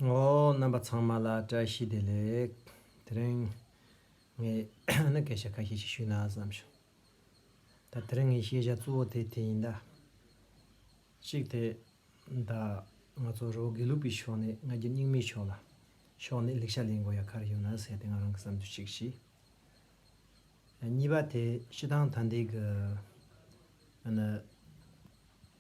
ཨོ། རྣམ་པ་ཚང་མ་ལ་བཀྲ་ཤིས་བདེ་ལེགས། དེ་རིང། ངས་ཨ་ནི་སྐད་ཆ་ཁ་ཤས་ཤིག་ཞུས་ན་བསམ་བྱུང། ད་དེ་རིང་ངའི་ཤེས་བྱ་གཙོ་བོ་དེ་དེ་ཡིན་ད། གཅིག་དེ། ད། ང་ཚོ་རོ་དགེ་ལུགས་པའི་ཕྱོགས་ནས་ང་རྒྱལ་སྙིང་མའི་ཕྱོགས་ལ། ཕྱོགས་ནས་ལེགས་ཆ་ལེན་དགོས་ཡ་ག་རེ་ཡོད་ན་ཟེར་ཏེ་ང་རང་གི་བསམ་ཚུལ་གཅིག་བཞི། གཉིས་པ་དེ་ཕྱི་ཐང་ཐ་འདི་གི། ཨ་ནི།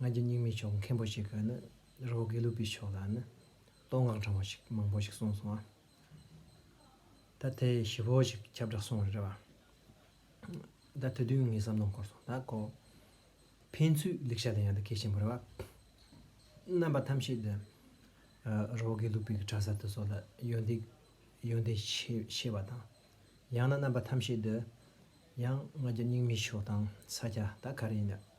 ང་རྒྱལ་སྙིང་མའི་ཕྱོགས་མཁན་པོ་ཞིག་གིས་ནི་རི་བོ་དགེ་ལུགས་པའི་ཕྱོགས་ལ་ནི་བསྟོད་བསྔགས་དྲང་བོ་ཞིག་མང་པོ་ཞིག་གསུངས་སོང་ང། ད་དེ་ཞི་བོ་ཞིག་ཁྱབ་བསྒྲགས་སོང་རེད་བ། ད་དེ་དུས་ངས་བསམ་བློ་འཁོར་སོང་ད་ཀོ། ཕན་ཚུན་ལེགས་ཆ་ལ་ཡང་ད་གལ་ཆེན་པོ་རེད་བ། རྣམ་པ་ཐམས་ཅད་དུ་རི་བོ་དགེ་ལུགས་པའི་གྲྭ་ས་དེ་སོགས་ལ་ཡོན་ཏན་ཡོན་ཏན་ཆེ་བ་དང། ཡང་ན་རྣམ་པ་ཐམས་ཅད་དུ་ཡང་ང་རྒྱལ་སྙིང་མའི་ཕྱོགས་དང་ས་སྐྱ་ད་ག་རེ་ཡིན་ན།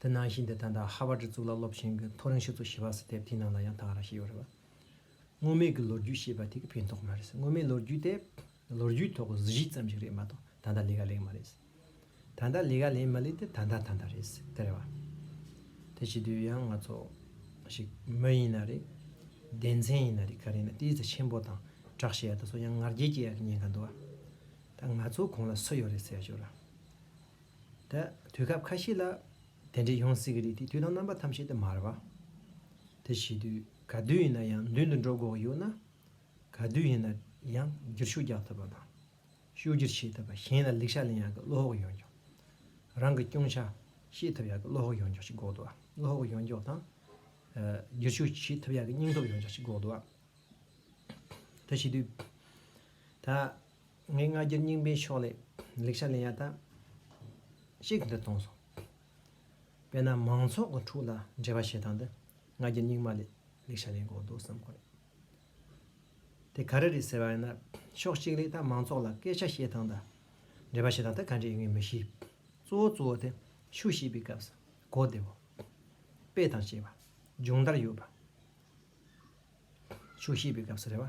དེ་ནང་བཞིན་དེ་ད་ལྟ་ཧ་བར་ཇི་གཙུག་ལག་སློབ་ཆེན་གྱི་མཐོ་རིང་ཞིབ་ཚོགས་ཞེས་པ་སི་ཐེབས་དེའི་ནང་ལ་ཡང་དག་ར་ཞིག་ཡོད་རེད་བ། སྔོན་མེད་ཀྱི་ལོ་རྒྱུས་ཞེས་པ་དེ་གི་ཕན་ཐོག་མ་རེད་ཟེར་སྔོན་མེད་ལོ་རྒྱུས་དེ་ལོ་རྒྱུས་ཐོག་གི་གཟི་བརྗིད་ཙམ་ཞིག་རེད་མ་གཏོགས་ད་ལྟ་ལས་ཀ་ལེགས་མ་རེད་ཟེར། ད་ལྟ་ལས་ཀ་ལེགས་མ་ལེགས་དེ་ད་ལྟ་ད་ལྟ་རེད་ཟེར་དེ་རེད་བ། དེ་བྱེད་དུས་ཡང་ང་ཚོ་ཞིག་མི་ཡིན་ན་རེད། སྡེ་མཚན་ཡིན་ན་རེད་ག་རེ་ཡིན་ན་དེའི་ཚེ་ཆེན་པོ་དང་གྲགས་ཞེས་ཡག་ད་སོ་ཡང་ངར་རྒྱལ་སྐྱེས་ཡག་གི་ཉན་ག་འདུག་བ། ད་ང་ཚོ་གོང་ལ་སུ་ཡོད་རེད་ཟེར་ཡག་ཞུ་ར། ད་དུས་སྐབས་ཁ་ཤས་ལ། དེ་འདྲའི་ཡང་སྲིད་ཀྱི་རིགས་དེ་དུས་དང་རྣམ་པ་ཐམས་ཅད་དུ་མར་བ། དེ་བྱེད་དུས་ག་དུས་ཡིན་ན་ཡང་མདུན་དུ་འགྲོ་འགོག་ཡོད་ན། ག་དུས་ཡིན་ན་ཡང་བསྒྱུར་ཤུགས་རྒྱག་ཐུབ་པ་དང། ཤུགས་བསྒྱུར་བྱེད་ཐུབ་པ་གཞན་ལ་ལེགས་ཆ་ལེན་ཡག་གི་བློ་ཧོག་ཡོང་རྒྱུ། རང་གི་སྐྱོན་ཆ་ཤེས་ཐུབ་ཡག་གི་བློ་ཧོག་ཡོང་རྒྱུ་ཞིག་འགོག་ཏུ་བ། བློ་ཧོག་ཡོང་རྒྱུ་དང། བསྒྱུར་ཤུགས་བྱེད་ཐུབ་ཡག་གི་སྙིང་སྟོབས་ཡོང་རྒྱུ་ཞིག་འགོག་ཏུ་བ། དེ་བྱེད་དུས། ད། ངའི་སྔ་རྒྱུད་རྙིང་པའི་ཕྱོགས་ལས་ལེགས་ཆ་ལེན་ཡག་ཐབས་ཤིག་འདི་གཏོང་སོང། དཔེར་ན་མང་ཚོགས་ཀྱི་ཕྲུག་ལ་འབྲེལ་བ་བྱེད་སྟངས་འདི་སྔ་རྒྱུད་རྙིང་མ་ལས་ལེགས་ཆ་ལེན་དགོས་འདུག་བསམ་གོ་རེད། དེ་ག་རེ་རེད་ཟེར་བ་ཡིན་ན་ཕྱོགས་གཅིག་ལས་ད་མང་ཚོགས་ལ་སྐད་ཆ་བཤད་སྟངས་དང་འབྲེལ་བ་བྱེད་སྟངས་འདི་ག་འདྲས་ཡིན་ངས་མི་ཤེས། གཙོ་བོ་གཙོ་བོ་དེ་ཆུ་བཤིག་པའི་སྐབས་སུ་གོ་བདེ་བོ། དཔེ་དང་བཅས་པ། སྦྱོང་བརྡར་ཡོད་པ། ཆུ་བཤིག་པའི་སྐབས་སུ་རེད་བ།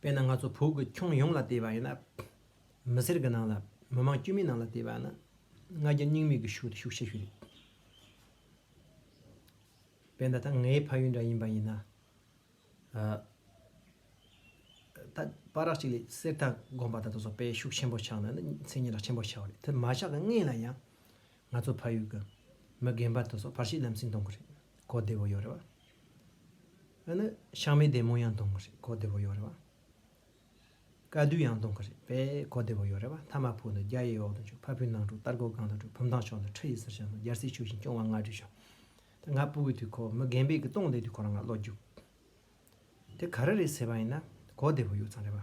དཔེར་ན་ང་ཚོ་བོད་ཀྱི་ཁྱོན་ཡོངས་ལ་བལྟས་པ་ཡིན་ན། མི་སེར་གྱི་ནང་ལ་མི་མང་དཀྱུས་མའི་ནང་ལ་བལྟས་པ་ནི་ང་རྒྱལ་སྙིང་མེད་ཀྱི་ཤུགས་དེ་ཤུགས་ཆེ་ཤོས་རེད། དཔེར་ན་ད་ངའི་ཕ་ཡུལ་འདྲ་ཡིན་པ་ཡིན་ན། ད་པཱ་རགས་གཅིག་ལས་གསེར་རྟ་སྒོམ་པ་དང་དེ་སོགས་དཔེ་ཤུགས་ཆེན་པོ་ཆགས་ན་ནི་མཚན་སྙན་གྲགས་ཆེན་པོ་ཆགས་རེད་དེ་མ་ཆགས་ཀྱི་སྔས་ལ་ཡང། ང་ཚོ་ཕ་ཡུལ་གྱི་མི་རྒན་པ་དེ་སོགས་ཕར་ཕྱིའི་ལམ་སེང་གཏོང་གི་རེད། གོ་བདེ་བོ་ཡོད་རེད་བ། ཨ་ནི་ཤང་མའི་བདེ་མོ་ཡང་གཏོང་གི་རེད་གོ་བདེ་བོ་ཡོད་རེད་བ། དཀའ་སྡུག་ཡང་གཏོང་གི་རེད་པས་གོ་བདེ་བོ་ཡོད་རེད་བ་མཐའ་མ་ཕུག་འདི་རྒྱ་ཡི་འོག་ཏུ་འཇུག་ཕ་བུའི་ནང་འཁྲུག་སྟར་སྒོ་གང་དུ་འཁྲུག་བུ་མདང་ཕྱོགས་འདི་ཁྲི་ཡི་སེར་ཤང་དུ་རྒྱལ་སྲིད་ཕྱུག་བཞིན་སྐྱོང་བ་ང་བྲིས་ཤོག་དེ་ང་ཕུག་གི་དུས་ཁོ་མི་རྒན་པས་གི་སྟོང་བསྡད་དུས་ཁོ་རང་ང་བློ་རྒྱུགས་དེ་ག་རེ་རེད་ཟེར་བ་ཡིན་ན་གོ་བདེ་བོ་ཡོད་ཙང་རེད་བ།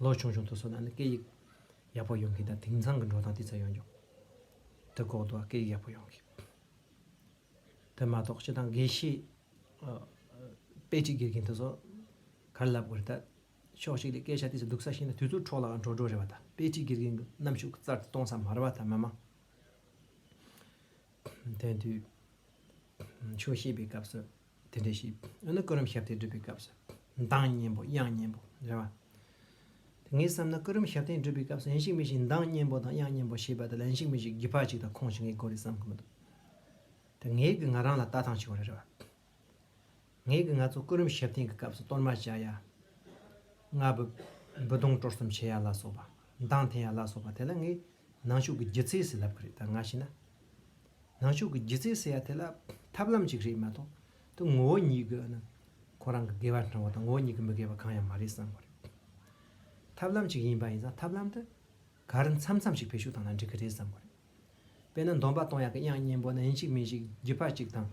ལོ་ཆུང་ཆུང་དུ་སོང་ན་ནི་སྐད་ཡིག་ཡག་པོ་ཡོང་གི་འདུག་དེང་སང་གི་འགྲོ་སྟངས་དེ་ཚོ་ཡོང་རྒྱུ་དེ་ལྐོག་ཏུ་སྐད་ཡིག་ཡག་པོ་ཡོང་གི། དེ་མ་གཏོགས་ཕྱི་དང་དགེ་བཤེས་དཔེ་ཁྲིད་དགེ་རྒན་དེ་ཚོ་ག་རེ་ལབ་དགོས་རེད་ད། ཕྱོགས་གཅིག་ལས་སྐད་ཆ་དེ་ཚོ་སྡུག་ས་ཞིག་ན་དུས་ཚོད་འཕྲོག་ལའང་འགྲོ་འགྲོ་རེད་བ་ད་དཔེ་ཁྲིད་དགེ་རྒན་གྱི་རྣམ་ཤུགས་གཙར་དུ་གཏོང་ས་མ་རེད་བ་ད་མ་མ། དེང་དུས་ཆུང་ཤེས་པའི་སྐབས་སུ། དེ་འདྲའི་གཞི། འོ་ན་སྐུ་རུམ་ཞབས་བརྟན་སྒྲུབ་པའི་སྐབས་སུ། མདངས་སྙན་པོ་དབྱངས་སྙན་པོ། རེད་བ། དེ་ངས་བསམ་ན་སྐུ་རུམ་ཞབས་བརྟན་སྒྲུབ་པའི་སྐབས་སུ་ཡན་ཞིག་མི་ཞིག་མདངས་སྙན་པོ་དང་དབྱངས་སྙན་པོ་ཞེས་པ་དང་ལན་ཞིག་མི་ཞིག་སྒི་ཕག་ཅིག་དང་ཁོང་ཞིག་ངའི་སྐོར་རེད་བསམ་གི་མི་འདུག་དེ་ངས་གི་ང་རང་ལ་ལྟ་སྟངས་ཆེ་བ་རེད་བ། ངས་གི་ང་ཚོ་སྐུ་རུམ་ཞབས་བརྟན་གི་སྐབས་སུ་གཏོར་མ་བྱ་ཡ། ལྔ། འབུ་སྡོང་དཀྲོལ་གསུམ་བྱེད་ཡ་ལ་སོགས་པ། མདངས་འཐེན་ཡ་ལ་སོགས་པ་དེ་ལ་ངས་ནང་ཆོས་ཀི་སྒྱུ་རྩལ་ཞིག་ལབ་གི་རེད་ད་ང་ཤི་ན། ནང་ཆོས་ཀྱི་སྒྱུ་རྩལ་ཟེར་ཡ་དེ་ལ་ཐབས་ལམ་ཅིག་རེད་མ་གཏོགས་དོན་ངོ་བོ་ཉིད་དགོས་ན་ཁོ་རང་གི་དགེ་བ་འཕྲང་བ་དང་ངོ་བོ་ཉིད་ཀྱི་མི་དགེ་བ་གང་ཡང་མ་རེད་བསམ་པ་རེད། ཐབས་ལམ་ཅིག་ཡིན་པ་ཡིན་ཙང་ཐབས་ལམ་དེ་གར་མཚམས་མཚམས་ཤིག་བེད་ཤུགས་བཏང་ན་འགྲིག་གི་རེད་བསམ་པ་རེད། དཔེར་ན་འདོམས་པ་གཏོང་ཡག་གི་དབྱངས་སྙན་པོ་ན་ཡིན་ཅིག་མིན་ཅིག་རྒྱུད་པ་ཅིག་དང་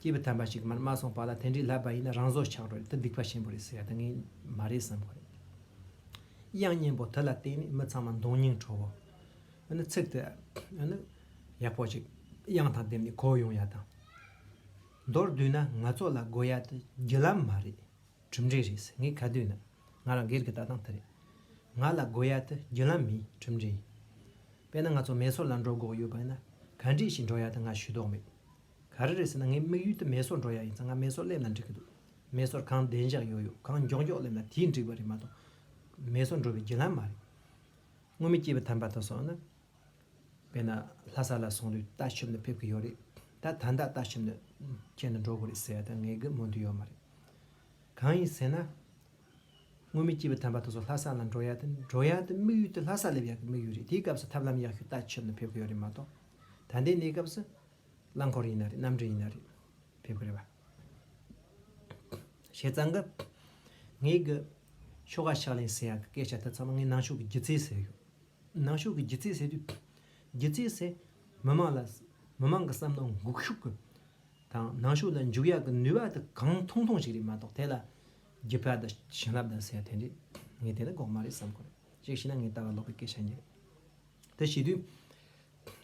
སྐྱེས་བུ་དམ་པ་ཞིག་མར་མ་སོང་བར་ལ་དེ་འདྲའི་ལབ་པ་ཡིན་ན་རང་བཟོ་ཆགས་རོགས་དེ་སྡིག་པ་ཆེན་པོ་རེད་ཟེར་ཡ་དེ་ངས་མ་རེད་བསམ་པ་རེད། དབྱངས་སྙན་པོ་དེ་ལ་བརྟེན་ནས་མི་ཚང་མ་མདོང་སྙིང་འཕྲོ་བོ། ཚིག་དེ་ཡག་པོ་ཞིག་དབྱངས་དང་ལྡན་པའི་གོ་ཡོང་ཡ་དང། མདོར་བསྡུས་ན་ང་ཚོ་ལ་དགོས་ཡ་དེ་བརྒྱུད་ལམ་མ་རེད་གྲུབ་འབྲས་རེད་ཟེར་ངས་ག་དུས་ན་ང་རང་སྒེར་གྱི་ལྟ་སྟངས་དེ་རེད། ང་ལ་དགོས་ཡ་དེ་བརྒྱུད་ལམ་མིན་གྲུབ་འབྲས་ཡིན། དཔེར་ན་ང་ཚོ་མེ་སོར་ལ་འགྲོ་དགོས་ཡོད་པ་ཡིན་ན་ག་འདྲིས་ཤིག་འགྲོ་ཡ་དེ་ང་ཞུས་དོགས་མེད། ག་རེ་རེད་ཟེར་ན་ངའི་དམིགས་ཡུལ་དེ་མེ་སོར་འགྲོ་ཡ་ཡིན་ཙང་ང་མེ་སོར་སླེབས་ན་འགྲིག་གི་འདུག་མེ་སོར་གང་བདེ་འཇགས་ཡོད་ཡོད་གང་མགྱོགས་མགྱོགས་སླེབས་ན་དེས་འགྲིག་པ་རེད་མ་གཏོགས་མེ་སོར་འགྲོ་བའི་བརྒྱུད་ལམ་མ་རེད། སྔོན་མི་སྐྱེས་པའི་དམ་པ་དང་སོང་ན། དཔེར་ན་ལྷ་ས་ལ་སོང་དུས་ལྟ་ཞིབ་ནི་ཕེབས་ཀྱི་ཡོད་རེད་ད། ད་ལྟ་ལྟ་ཞིབ་ནི་ཁྱེད་ནི་འགྲོ་དགོས་རེད་ཟེར་ཡ་ད་ངས་དགོས་སྨོན་དུ་ཡོད་མ་རེད། གང་ཡིན་ཟེར་ན། སྔོན་མི་སྐྱེས་པའི་དམ་པ་དང་སོང་ལྷ་ས་ལ་འགྲོ་ཡ་དེ་འགྲོ་ཡ་དེ་དམིགས་ཡུལ་དེ་ལྷ་ས་སླེབས་ཡ་གི་དམིགས་ཡུལ་རེད་དེའི་སྐབས་སུ་ཐབས་ལམ་ཡག་ཤོས་ལྟ་ཞིབ་ནི་ཕེབས་ཀྱི་ཡོད་རེད་མ་གཏོགས་ད་ལྟའི་གནས་སྐབས་སུ། རླངས་འཁོར་ཡིན་ན་རེད་གནམ་གྲུ་ཡིན་ན་རེད་ཕེབས་ཀྱི་རེད་བ། བྱས་ཙང་གི། ངས་གི། ཆོ་ག་ཕྱག་ལེན་ཟེར་ཡག་གི་སྐད་ཆ་དེ་ཚང་མ་ངས་ནང་ཆོས་ཀྱི་སྒྱུ་རྩལ་ཟེར་ཡོད། ནང་ཆོས་ཀྱི་སྒྱུ་རྩལ་ཟེར་དུས། སྒྱུ་རྩལ་ཟེར། མི་མང་ལ། མི་དམངས་ཀྱི་བསམ་བློ་འགུག་ཤུགས་ཀྱི། དང་ནང་ཆོས་ལ་འཇུག་ཡག་གི་ནུས་པ་དེ་གང་ཐུང་ཐུང་ཞིག་རེད་མ་གཏོགས་དེ་ལ། སྒྱུ་རྩལ་དང་བྱིན་རླབས་དང་ཟེར་དེ་འདྲས། ངས་དེ་འདྲ་འགོག་མ་རེད་བསམ་གོ་རེད། གཅིག་བྱས་ན་ངས་ལྟ་བ་ལོག་པའི་སྐད་ཆ་ཉིད་རེད། དེ་བྱས་དུས།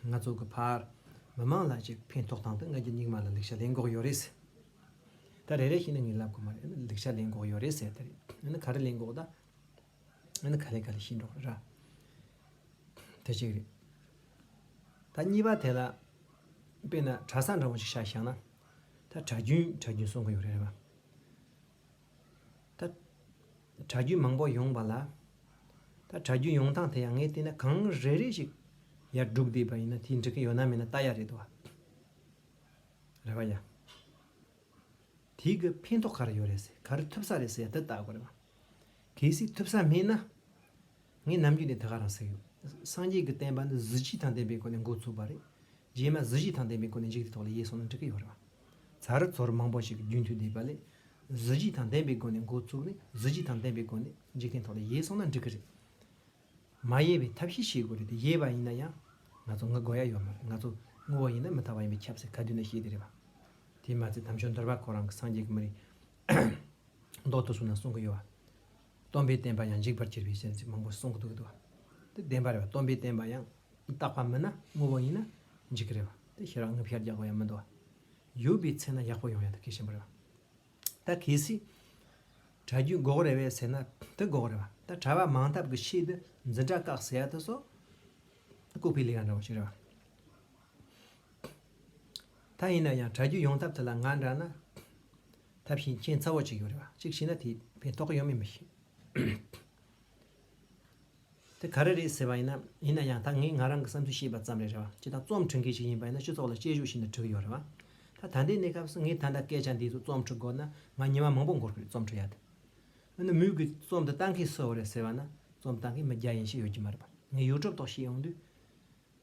ང་ཚོ་གི་བར་མི་མང་ལ་ཅིག་ཕན་ཐོགས་སྟངས་དུ་ང་རྒྱུ་སྙིགས་མ་ལ་ལེགས་ཆ་ལེན་འགོག་ཡོད་རེད་ཟེར། ད་རེ་རེ་ཞིག་ནི་ངས་ལབ་དགོས་མ་རེད་ལེགས་ཆ་ལེན་འགོག་ཡོད་རེད་ཟེར་ད་རེད་ག་རེ་ལེན་འགོག་ད་ནི་ག་ལེ་ག་ལེ་ཤི་འགྲོ་ར། དེ་གཅིག་རེད། ད་གཉིས་པ་དེ་ལ་དཔེ་ན་གྲྭ་ས་འདྲ་བོ་ཞིག་བཞག་ཤག་ན་ད་གྲྭ་རྒྱུན་གྲྭ་རྒྱུན་གསུང་གི་ཡོད་རེད་བ། ད། གྲྭ་རྒྱུན་མང་པོ་ཡོང་བ་ལ། ད་གྲྭ་རྒྱུན་ཡོང་སྟངས་དེ་ཡང་ངས་བལྟས་ན་གང་རེ་རེ་ཞིག་ཡར་སྒྲུག་བསྡད་པ་ཡིན་ན་དེ་འགྲིག་གི་ཡོད་ན་མེད་ན་ལྟ་ཡག་རེད་འདུག་བ། རེ་བ་ཡ། དེ་གི་ཕན་ཐོག་ག་རེ་ཡོད་རེད་ཟེར་ག་རེ་ཐུབ་ས་རེད་ཟེར་ཡ་དེ་ལྟ་དགོས་རེད་བ། གལ་སྲིད་ཐུབ་ས་མེད་ན། ངས་ནམ་རྒྱུན་དེ་ད་ག་རང་ཟེར་ཡོད། སངས་རྒྱས་ཀྱི་བསྟན་པ་འདི་གཟི་བརྗིད་དང་ལྡན་པའི་སྒོ་ནས་འགོ་བཙུགས་པ་རེད། རྗེས་མ་གཟི་བརྗིད་དང་ལྡན་པའི་སྒོ་ནས་འཇིག་དེ་ཐོག་ལ་ཡལ་སོང་ན་འགྲིག་གི་ཡོད་རེད། ཟ་རི་ཚོར་མང་པོ་ཞིག་གི་རྒྱུན་མཐུད་བསྡད་པ་ལས། གཟི་བརྗིད་དང་ལྡན་པའི་སྒོ་ནས་འགོ་བཙུགས་ནས་གཟི་བརྗིད་དང་ལྡན་པའི་སྒོ་ནས་འཇིག་རྟེན་ཐོག་ལ་ཡལ་སོང་ན་འགྲིག་གི་རེད། མ་ཡལ་བའི་ཐབས་ཤེས་བྱེད་དགོས་རེད་དེ་ཡལ་བ་ཡིན་ན་ཡང། ང་ཚོ་ངུ་དགོས་ཡ་ཡོད་མ་རེད་ང་ཚོ་ངུ་བ་ཡིན་ན་མི་དག་པ་ཡིན་པའི་ཁྱབ་སེ་ག་དུས་ན་ཤེས་དེ་རེད་བ། དེས་མ་ཚད་དམ་ཆོས་འདོར་བ་ཁོ་རང་གི་སངས་རྒྱས་ཀྱི་མི་རིགས། མདོག་ཏུ་བཟུང་ན་གསུང་གི་ཡོད་བ། སྟོང་པའི་བསྟན་པ་ཡང་འཇིག་པར་འགྱུར་བའི་ཞེན་ཚིག་མང་པོ་གསུང་གི་འདུག་ཏོ། དེ་བདེན་པ་རེད་བ་སྟོང་པའི་བསྟན་པ་ཡང་རྟག་པ་མིན་ན་དངོས་པོ་ཡིན་ན་འཇིག་གི་རེད་བ་དེ་ཤེས་རང་ངོ་ཤར་རྒྱག་པ་ཡང་མི་འདུག་བ། ཡོད་པའི་ཚེ་ན་ཡག་པོ་ཡོང་ཡ་དེ་གལ་ཆེན་པོ་རེད་བ། ད་གལ་སྲིད་གྲྭ་རྒྱུན་འགོག་རེད་བས་ཟེར་ན་དེ་འགོག་རེད་བ་ད་གྲྭ་བ་མང་ཐབས་ཀྱི་ཆེད་དུ་འཛིན་གྲྭ་བཀག་ཟེར་ཡ་དེ་སོགས་ལྐུགས་པའི་ལས་ཀ་འདྲ་བོ་ཞིག་རེད་བ། ད་ཡིན་ན་ཡང་གྲྭ་རྒྱུན་ཡོང་ཐབས་དེ་ལ་ང་འདྲ་ན། ད་བཞིན་མཁྱེན་རྩ་བ་གཅིག་ཡོད་རེད་བ་གཅིག་ཤེས་ན་དེས་ཕན་ཐོགས་ཡོད་མེད་མི་ཤེས། དེ་ག་རེ་རེད་ཟེར་བ་ཡིན་ན་ཡིན་ན་ཡང་ད་ངས་ང་རང་གི་བསམ་ཚུལ་བཤད་པ་ཙམ་རེད་རེད་བ་སྤྱི་དང་རྩོམ་འཁྲི་མཁན་ཞིག་ཡིན་པ་ཡིན་ན་སྤྱི་ཚོགས་ལ་དཔྱད་བཞུགས་ཤིན་ཏུ་བྲི་གི་ཡོད་རེད་བ་ད་ད་འདའི་གནས་སྐབས་སུ་ངས་ད་འདའ་སྐད་ཆ་འདི་ཚོ་རྩོམ་འཁྲི་དགོས་ན་ང་ཉི་མ་མང་པོ་འགོར་གི་རེད་རྩོམ་འཁྲི་ཡག་དེ་འོ་ན་མུས་གི་རྩོམ་འདི་བཏང་མཁན་སུ་ཡོད་རེད་ཟེར་བ་ན་རྩོམ་བཏང་མཁན་མི་བརྒྱ་ཡན་ཞིག་ཡོད་ཀྱི་མ་རེད་བ་ངས་ཡུལ་གྲུབ་ཐོག་བཤད་ཡོང་དུས།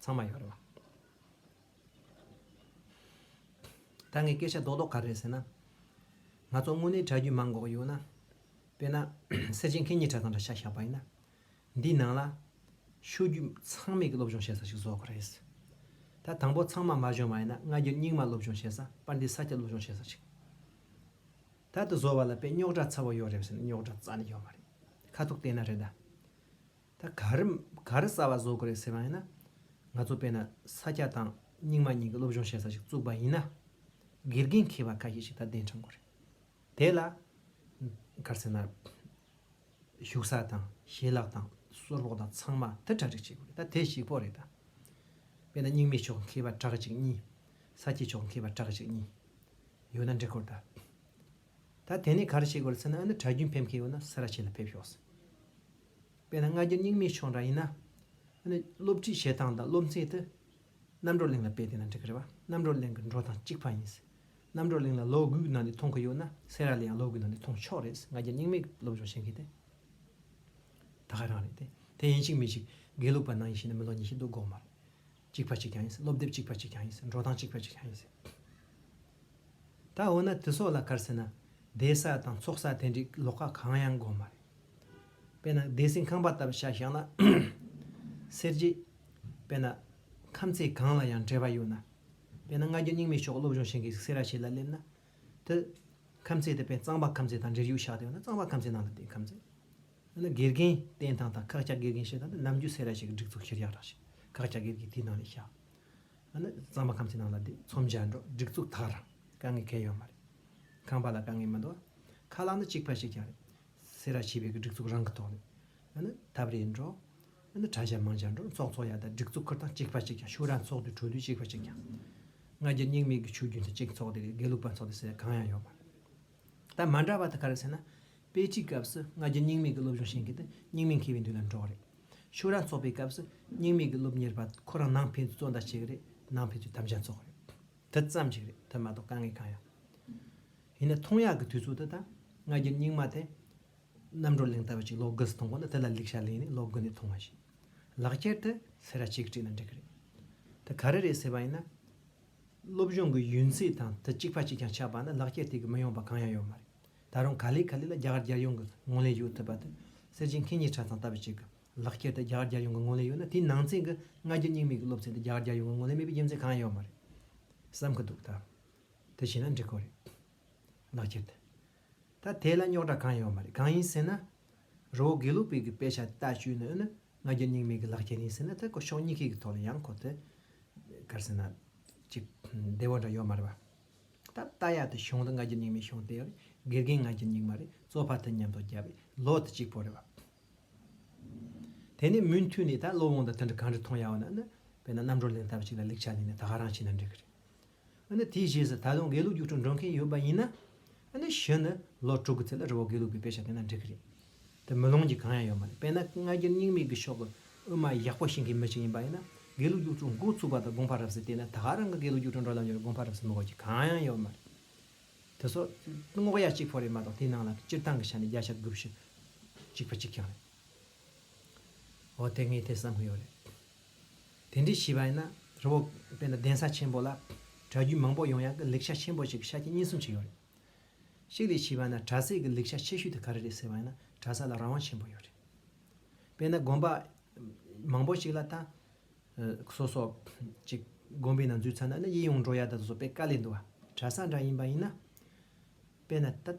ཚང་མ་ཡོད་རེད་བ། ད་ངས་སྐད་ཆ་རྡོག་རྡོག་ག་རེ་ཟེར་ན། ང་ཚོ་དངོས་གནས་གྲྭ་རྒྱུན་མ་འགོག་ཡོད་ན། དཔེར་ན། གསེར་ཆེན་མཁན་གཉིས་གྲྭ་དང་འདྲ་ཆགས་བཞག་པ་ཡིན་ན། འདིའི་ནང་ལ། ཤོད་རྒྱུ་ཚང་མེད་ཀྱི་སློབ་སྦྱོང་བྱེད་ས་ཞིག་བཟོ་དགོས་རེད། ད་དང་པོ་ཚང་མ་མ་བྱུང་བ་ཡིན་ན་སྔ་རྒྱུན་རྙིང་མ་སློབ་སྦྱོང་བྱེད་ས་པར་འདི་ས་སྐྱ་སློབ་སྦྱོང་བྱེད་ས་ཞིག། ད་འདི་བཟོ་བ་ལ་དཔེ་རྙོག་དྲ་ཚ་བོ་ཡོད་རེད་ཟེར་ན་རྙོག་དྲ་རྩ་ནས་ཡོད་མ་རེད། ཁ་ཐུག་བལྟས་ན་རེད་ད། ད་ག་རེ་ག་རེ་གསར་བ་བཟོ་དགོས་རེད་ཟེར་བ་ཡིན་ན། ང་ཚོ་དཔེར་ན་ས་སྐྱ་དང་རྙིང་མ་གཉིས་ཀྱི་སློབ་སྦྱོང་བྱེད་ས་ཞིག་བཙུགས་པ་ཡིན་ན། དགེ་རྒན་མཁས་པ་ཁ་ཤས་ཤིག་ད་གདན་དྲངས་དགོས་རེད། དེ་ལ། ག་རེ་ཟེར་ན། ཞུགས་ས་དང་ཞལ་ལག་དང་སོར་སློག་དང་ཚང་མ་དེ་གྲ་སྒྲིག་བྱེད་དགོས་རེད་ད་དེ་ཞིག་ཕོག་རེད་ད། དཔེར་ན་རྙིང་མའི་ཕྱོགས་མཁས་པ་གྲགས་ཅིག་གཉིས། ས་སྐྱའི་ཕྱོགས་མཁས་པ་གྲགས་ཅིག་གཉིས། ཡོད་ན་འབྲི་དགོས་རེད་ད། ད་དེ་ནས་ག་རེ་བྱེད་དགོས་རེད་ཟེར་ན་ཨ་ནི་གྲྭ་རྒྱུན་ཕེབས་མཁན་ཡོད་ན་སེ་ར་ཆེན་ལ་ཕེབས་ཤོག་ཟེར། དཔེར་ན་སྔ་རྒྱུ་རྙིང་མའི་ཕྱོགས་འདྲ་ཡིན་ན། ཨ་ནི་སློབ་ཁྲིད་བྱེད་སྟངས་དང་སློབ་ཚན་དུ། རྣམ་གྲོགས་གླིང་ལ་དཔེ་བལྟས་ན་འགྲིག་གི་རེད་པ། རྣམ་གྲོགས་གླིང་གི་འགྲོ་སྟངས་གཅིག་པ་ཡིན། རྣམ་གྲོགས་གླིང་ལ་ལོ་དགུའི་ནང་དུ་མཐོང་གི་ཡོད་ན་སེ་ར་ལ་ཡང་ལོ་དགུའི་ནང་དུ་མཐོང་ཆོག་རེད། སྔ་རྒྱུ་རྙིང་མའི་སློབ་སྦྱོང་བྱེད་མཁན་དེ། ད་ག་རང་རེད་དེ། དེ་ཡིན་གཅིག་མིན་གཅིག་དགེ་ལུགས་པ་ནང་ཡིན་ཞེ་ན་མི་ལོ་ཉི་ཤུ་འདུག་དགོངས་མ་རེད། གཅིག་པ་ཅིག་ཀྱང་ཡིན་སྲིད་སློབ་དེབ་གཅིག་པ་ཅིག་ཀྱང་ཡིན་སྲིད་འགྲོ་སྟངས་གཅིག་པ་ཅིག་ཀྱང་ཡིན་སྲིད། ད་འོ་ན་དེ་སོགས་ལ་བཀར་ཟེར་ན། བསྡད་ས་དང་འཚོགས་ས་དེ་འདྲའི་ལོག་ཁ་གང་ཡང་དགོས་མ་རེད། དཔེར་ན་བདེ་སྲིན་ཁང་པ་ལྟ་བུ་ཤ་བཞག་ན། སེར་བརྗེ། དཔེར་ན། ཁམས་ཚད་གང་ལ་ཡང་འབྲེལ་བ་ཡོད་ན། དཔེར་ན་སྔ་རྒྱུ་རྙིང་མའི་ཕྱོགས་སློབ་སྦྱོང་བྱེད་མཁན་ཞིག་སེ་ར་ཆེ་ལ་སླེབས་ན། དེ། ཁམས་ཚད་དེ་དཔེར་ན་གཙང་པ་ཁམས་ཚད་དང་འབྲེལ་ཡོད་ཤག་དེ་ཡོད་ན་གཙང་པ་ཁམས་ཚད་ནང་ལ་བསྡད་ཁམས་ཚད། ཨ་ན་དགེ་རྒན་བསྟེན་སྟངས་དང་ཁག་ཅག་དགེ་རྒན་བྱེད་སྟངས་ནི་ནམ་རྒྱུན་སེ་ར་ཞིག་གི་སྒྲིག་འཛུགས་ཁེར་རྐྱང་རང་བཞིན་ཁག་ཅག་སྒེར་གྱི་དེའི་ནང་ནས་བཞག་ཨ་ན་གཙང་མ་ཁམས་ཀྱི་ནང་ལ་དེ་མཚོ་འཇའ་འབྲོག་སྒྲིག་འཛུགས་དག་རང་དཀའ་ངལ་གལ་ཡོད་མ་རེད། ཁང་པ་ལ་དཀའ་ངལ་མི་འདུག་ཨ་ཁ་ལག་ནི་གཅིག་པ་ཞིག་ཀྱང་རེད། སེ་ར་བྱིས་པའི་གི་སྒྲིག་འཛུགས་རང་གི་ཐོག་ནས་ཨ་ན་འཐབ་རེས་འགྲོ། ཨ་ན་གྲྭ་ཞབས་མང་ཆ་འགྲོ་ཚོགས་འཚོགས་ཡ་དག་སྒྲིག་འཛུགས་ཁུར་སྟངས་གཅིག་པ་ཞིག་ཀྱང་ཕྱུགས་ར་འཚོགས་དུས་བྲོ་དུས་གཅིག་པ་ཞིག་ཀྱང། ང་རྒྱལ་སྙིང་མེད་ཀྱི་ཆུ་རྒྱུན་དུ་གཅིག་འཚོགས་དེ་དགེ་ལུགས་པ་འཚོགས་དེ་སེ་ར་གང་ཡང་ཡོད་མ་རེད། ད་མ་འདྲ་བ་དེ་ག་རེད་ཟེར་ན། དཔེ་ཁྲིད་སྐབས་སུ་སྔ་རྒྱུན་སྙིང་མེད་ཀྱི་སློབ་སྦྱོང་བྱེད་མཁན་དེ་སྙིང་མེད་མཁས་པའི་མདུན་ལ་འགྲོ་བ་རེད། ཕྱུགས་ར་འཚོ་བའི་སྐབས་སུ་སྙིང་མེད་ཀྱི་སློབ་གཉེར་པ་ཁོ་རང་ནང་ཕན་ཚུན་གཙོ་ཟླ་བྱེད་ཀྱི་རེད་ནང་ཕན་ཚུན་དམ་བཅའ་འཚོགས་ཀྱི་རེད། དེ་ཙམ་གྱིས་རེད་དེ་མ་གཏོགས་དཀའ་ངལ་གང་ཡང་ཡིན་ན་ཐུང་ཡག་གི་དུས་ཚོད་དེ་དང་སྔ་རྒྱུན་སྙིང་མ་དེ་གནམ་གྲོ་གླིང་ལྟ་བུ་ཅིག་ལོག་དགུ་སུ་ཐོང་གོ་ན་དེ་ལ་ལེགས་ཤ་ལེན་ནས་ལོག་དགུ་ནས་ཐོང་བ་བཞིན་ལག་ཁྱེར་དེ་ཚེ་ར་གཅིག་བྲིས་ན་འགྲིག་གི་རེད་དེ་ག་རེ་རེད་ཟེར་བ་ཡིན་ན། སློབ་སྦྱོང་གི་ཡུན་ཚད་དང་དུ་གཅིག་པ་གཅིག་ཀྱང་ཆགས་པ་ནི་ལག་འཁྱེར་དེ་གི་མི་ཡོང་པ་གང་ཡང་ཡོད་མ་རེད། ད་རུང་ག་ལེ་ག་ལེ་ལ་རྒྱ་གར་རྒྱལ་ཡོངས་ཀྱི་ངོ་ལེན་ཡོད་ཐུབ་པ་དེ་སེར་བྱེས་མཁས་གཉིས་ཁྲ་ཚང་ལྟ་བུ་ཅིག་གི་ལག་འཁྱེར་དེ་རྒྱ་གར་རྒྱལ་ཡོངས་ཀྱི་ངོ་ལེན་ཡོད་ན་དེའི་ནང་ཚན་གྱི་སྔ་རྒྱུ་སྙིང་མིག་གི་སློབ་ཚན་དེ་རྒྱ་གར་རྒྱལ་ཡོངས་ཀྱི་ངོ་ལེན་མེད་པའི་རྒྱུ་མཚན་གང་ཡང་ཡོད་མ་རེད་བསམ་གྱི་འདུག་ད་དེ་བྱས་ན་འགྲིག་གི་རེད། ལག་འཁྱེར་དེ་ད་དེ་ལ་རྙོག་དྲ་གང་ཡོད་མ་རེད་གང་ཡིན་ཟེར་ན། རི་བོ་དགེ་ལུགས་པའི་གི་དཔེ་ཆ་ལྟ་བཅུའི་ནང་ནི་ང་རྒྱལ་སྙིང་མེད་གི་ལག་ཁྱེར་ཡིན་ཟེར་ན་ད་ཁོ་ཕྱོགས་གཉིས་ཁེ་གི་ཐོག་ལ་ཡང་ཁོ་དེ་གར་ཟེར་ན་ཅིག་བདེ་བོ་འདྲ་ཡོད་མ་རེད་པ། ད་ལྟ་ཡ་དེ་གཞུང་དེ་ང་རྒྱལ་སྙིང་མེད་གཞུང་དེ་ཡང་རེད་དགེ་རྒན་ང་རྒྱལ་སྙིང་མ་རེད་གཙོ་ཕ་དེ་ཉམས་ཐོག་རྒྱབ་པའི་ལོ་དེ་གཅིག་པོ་རེད་པ། དེ་ནས་མུན་མཐུད་ནས་ད་བློ་བོང་དང་དེ་འདྲ་གང་འདྲ་མཐོང་ཡ་བ་ན་ནི་དཔེ་ན་རྣམ་གྲོ་ལེན་ཐབས་ཅིག་ལ་ལེགས་ཆ་ལེན་ནས་ད་ཧ་རང་བྱས་ན་འགྲིག་གི་རེད། ཨ་ནི་དེའི་རྗེས་སུ་ད་དུང་དགེ་ལུགས་རྒྱུགས་སྤྲོད་འགྲོ་མཁན་ཡོད་པ་ཡིན་ན། ཨ་ནི་གཞི་ནི་ལོ་དྲུག་གི་ཚེ་ལ་རི་བོ་དགེ་ལུགས་པའི་དཔེ་ཆ་དེ་འདྲ་འབྲི་གི་རེད་དེ། མི་ལོངས་ཀྱི་གང་ཡང་ཡོད་མ་རེད་དཔེར་ན་སྔ་རྒྱུད་རྙིང་མིག་གི་ཕྱོགས་ཀྱི་དབུ་མ་ཡག་པོ་ཤེས་མཁན་མི་ཞིག་ཡིན་པ་ཡིན་ན། དགེ་ལུགས་རྒྱུགས་སྤྲོད་འགོ་ཚུགས་པ་དང་དགོངས་པ་རབ་གསལ་བལྟས་ན་ད་རང་གི་དགེ་ལུགས་རྒྱུགས་སྤྲོད་འགྲོ་ལམ་ཡོད་པ་དགོངས་པ་རབ་གསལ་མི་གོ་རྒྱུ་གང་ཡང་ཡོད་མ་རེད། དེ་སོགས་རྔོག་ཡ་གཅིག་ཕོ་རེད་མ་གཏོགས་དེའི་ནང་ལ་སྤྱིར་བཏང་གི་ཆ་ནས་བརྒྱ་ཆ་དགུ་བཞི་གཅིག་པ་གཅིག་ཀྱང་རེད། འོ་དེ་ངས་དེ་བསམ་གི་ཡོད་རེད། དེ་འདྲའི་བྱིས་པ་ཡིན་ན་རི་བོ་དཔེར་ན་གདན་ས་ཆེན་པོ་ལ་གྲྭ་རྒྱུན་མང་པོ་ཡོང་ཡག་གི་ལེགས་ཆ་ཆེན་པོ་ཞིག་གི་ཆ་རྐྱེན་གཉིས་གསུམ་ཞིག་ཡོད་རེད། གཅིག་དེ་བྱིས་པ་ན་གྲྭ་སའི་གི་ལེགས་ཆ་ཆེ་ཤོས་དེ་ག་རེ་རེད་ཟེར་བ་ཡིན་ན་གྲྭ་ས་ལ་རང་དབང་ཆེན་པོ་ཡོད་རེད། དཔེར་ན་དགོན་པ་མང་པོ་ཞིག་ལ་ལྟ། སོ་སོ་ཅིག་དགོན་པའི་ནང་འཛུལ་ཚར་ན་ནི་ཡིད་ཡོངས་འགྲོ་ཡག་ད་དུ་སོ་དཔེ་དཀའ་ལས་འདུག་ག་གྲྭ་ས་འདྲ་ཡིན་པ་ཡིན་ན་དཔེར་ན་ད།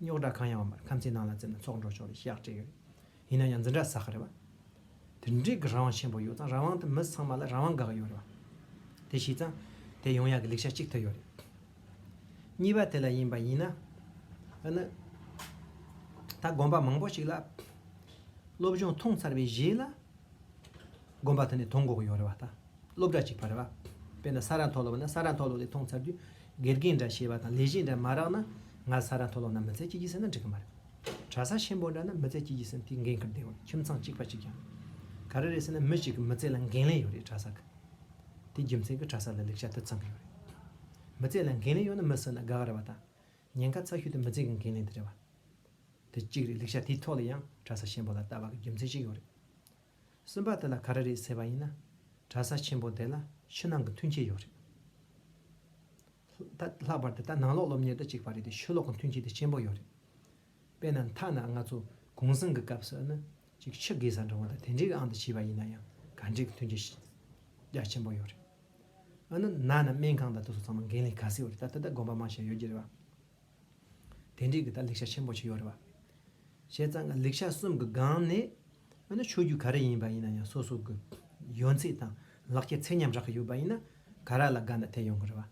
རྙོག་དྲ་གང་ཡང་མེད་པར་ཁམས་ཚན་ནང་ལ་བཙལ་ན་ཚོགས་འགྲོ་ཆོག་ལ་ཤེས་ཡག་སྤྲད་ཡོད་རེད། ཡིན་ན་ཡང་འཛིན་གྲྭ་ཟ་ཁ་རེད་བ། དེ་འབྲེལ་གྱི་རང་དབང་ཆེན་པོ་ཡོད་ཙང་རང་དབང་དེ་མི་ཚང་མ་ལ་རང་དབང་དགག་ཡོད་རེད་བ། དེ་ཤེས་ཙང་དེ་ཡོང་ཡག་གི་ལེགས་ཆ་གཅིག་ཐོན་ཡོད་རེད། གཉིས་པ་དེ་ལ་ཡིན་པ་ཡིན་ན་ནི། ད་དགོན་པ་མང་པོ་ཞིག་ལ་སློབ་སྦྱོང་ཐོངས་ཚར་བའི་རྗེས་ལ་དགོན་པ་དེ་ནས་དོང་གོག་ཡོད་རེད་བ་ད། སློབ་གྲྭ་གཅིག་བར་བ། དཔེར་ན་ས་རཱ་མཐོ་སློབ་ན་ས་རཱ་མཐོ་སློབ་དེ་མཐོང་ཚར་དུས་དགེ་རྒན་འདྲ་ཞེས་པ་དང་ལས་གཞི་འདྲ་མ་རག་ན་ང་ས་རཱ་མཐོ་སློབ་ན་མི་ཚེ་གཅིག་གྱིས་ཟིན་ན་འགྲིག་གི་མ་རེད། གྲྭ་ས་ཆེན་པོ་འདྲ་ན་མི་ཚེ་གཅིག་གྱིས་ཟིན་དུས་འགན་འཁུར་བདེ་བ་ཁྱིམ་ཚང་གཅིག་པ་གཅིག་ཀྱང་རེད། ག་རེ་རེད་ཟེར་ན་མི་གཅིག་གི་མི་ཚེ་ལ་འགན་ལེན་ཡོད་རེད་གྲྭ་ས་གི། དེ་རྒྱུ་མཚན་གྱིས་གྲྭ་ས་ལ་ལེགས་ཆ་དེ་ཙམ་གྱི་ཡོད་རེད། མི་ཚེ་ལ་འགན་ལེན་ཡོད་ན་མི་ཟིན་ན་དགའ་གི་རེད་བ་དང། ཉེན་ཁ་ཚ་ཤུལ་དུ་མི་ཚེ་གི་འགན་ལེན་དེ་རེད་བ། དེ་གཅིག་རེད་ལེགས་ཆ་དེའི་ཐོག་ལ་ཡང་གྲྭ་ས་ཆེན་པོ་ལ་ལྟ་བ་གི་རྒྱུ་མཚན་ཞིག་ཡོད་རེད། སེམས་པ་དེ་ལ་ག་རེ་རེད་ཟེར་བ་ཡིན་ན། གྲྭ་ས་ཆེན་པོ་དེ་ལ་ཕྱི་ནང་གི་མཐུན་རྐྱེན་ཡོད་རེད། ད་ལྷག་པར་དུ་ད་ནང་ལོགས་སློབ་གཉེར་དུ་གཅིག་པ་རེད་དེ་ཕྱི་ལོགས་ཀྱི་མཐུན་རྐྱེན་དེ་ཆེན་པོ་ཡོད་རེད། དཔེར་ན་མཐའ་ན་ང་ཚོ་གུང་གསེང་གི་སྐབས་སུ་ནི་ཅིག་ཕྱི་དགེ་བཟང་འབྲིང་བ་དང་དེ་འདྲའི་ཨང་དུ་ཕྱེས་པ་ཡིན་ན་ཡང་ག་འདྲའི་མཐུན་རྐྱེན་ཞིག་རྒྱ་ཆེན་པོ་ཡོད་རེད། ཨ་ནི་ན་ནི་སྨན་ཁང་དང་དུ་སོ་ཚང་མ་འགན་ལེན་ག་ཟེ་ཡོད་རེད་ད་ད་ལྟ་དགོན་པ་མང་ཞིག་ཡོད་རྒྱུ་རེད་བ། དེ་འདྲའི་གི་ད་ལེགས་ཆ་ཆེན་པོ་ཆེ་ཡོད་རེད་བ། བྱས་ཙང་གི་ལེགས་ཆ་གསུམ་གི་སྒང་ནས་དཔེར་ན་ཆོས་རྒྱུད་ག་རེ་ཡིན་པ་ཡིན་ན་ཡང་སོ་སོ་གི་ཡོན་ཚད་དང་ལག་ཁྱེར་ཚད་མཉམ་རག་གི་ཡོད་པ་ཡིན་ན་ག་ར་ལ་དགའ་ན་དེ་ཡོང་གི་རེད་བ།